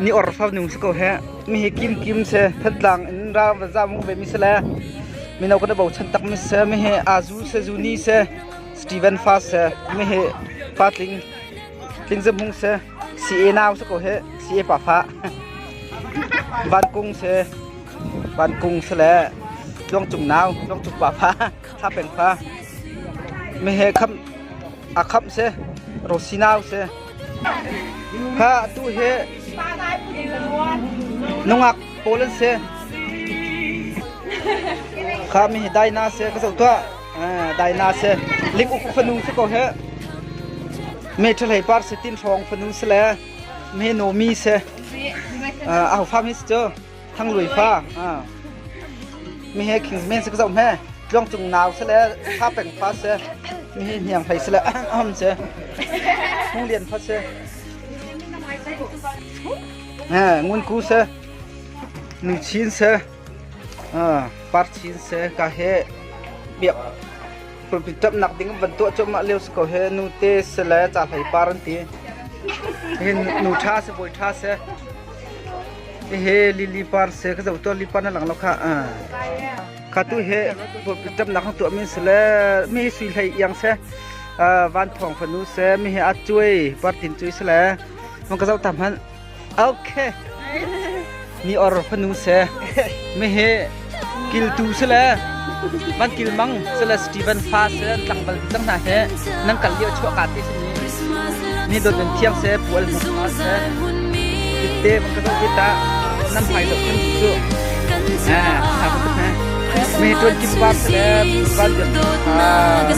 ni or fa nung si ko he mi hi kim kim se phatlang in ra va za mung ve mi se le mino kan bo chan tak mi se mi hi azu se zuni se Stephen Fa se mi hi fa tling tling zem hung se si e nau se ko he si e pa fa van kung se van kung se le tluang cung nau tluang cung pa fa sa peng fa mi he kham a khamh seh ro sinau seh kha atu hi nungak pawl an se kha mi dai na se ka so tua dai na se lik uk fanu se ko he me thalai par se tin thong fanu se le me no mi se au fam his cho thangluai fa mi he khing men sak zau hme tlong cung nau se le sa peng fa se mi he hniang phai se le am se hung lian fa se ngun ku se nu chin se par chin se ka he biak pulpitap nak ding van tu chom ma leo ko he nu te se le cha hlai par an ti hin nu tha se boi tha se Hihi lili par se ka zoh tuan lipa na lang lo kha. Kha tu hi damnak kan tuah min se le mi hi sui hlei iang se van thong fanu se mi hi a cuai partin cuai se le mun ka zoh ta hman. Okay. Mi or fanu se mi hi Kiltu sile man kilmang sile Stephen fa sile tlangval cang hna he nan kal lio chuah ka te simi ni dot in thiang se pual hmuh ma se te van ka zoh ta nan hmai dok kan cu ha ka hne me tuan kim bab sile van jam ha